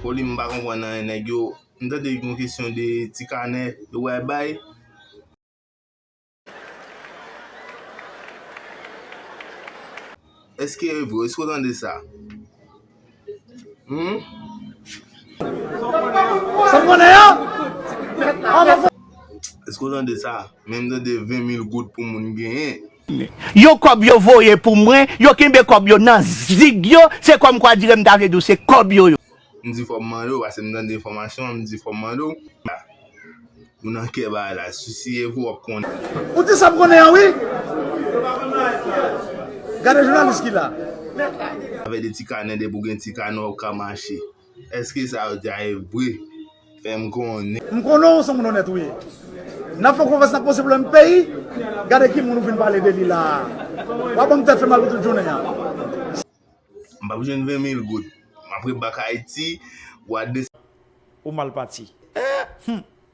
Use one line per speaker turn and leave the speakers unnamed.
Foli m pa konprann anyen nèg yo m tande yon kesyon de ti kanè yo bal bay. Eske e vre? Eske w tande sa? Eske w tande sa? Men m tande 20 mil goud pou moun genyen. Yo kòb
yo voye pou mwen, yo kenbe kòb yo nan zig yo, se kòm kwa dire m ta vle di w se kòb yo yo. M di fò m mande
w, pase m tande enfòmasyon an, m di fò m mande w, la, ou nan kè bagay la, sousye pou w ap konnen. Ou di sa m konnen
an wi! Gade jounalis ki la. Afè de
ti kanè, depi w gen ti kanè w ap ka mache. Eske sa yo di a e vre? Fè m konnen. M konnen w son moun onèt
ou ye. N ap fè konfyans n ap poze pwoblèm peyi. Gade ki moun ou vin pale de li la a. W ap ban m tèt fè mal pou tout jounen an.
M p ap jwenn 20 mil goud. M ap ret bak Ayiti. Ou mal pati.
Hum!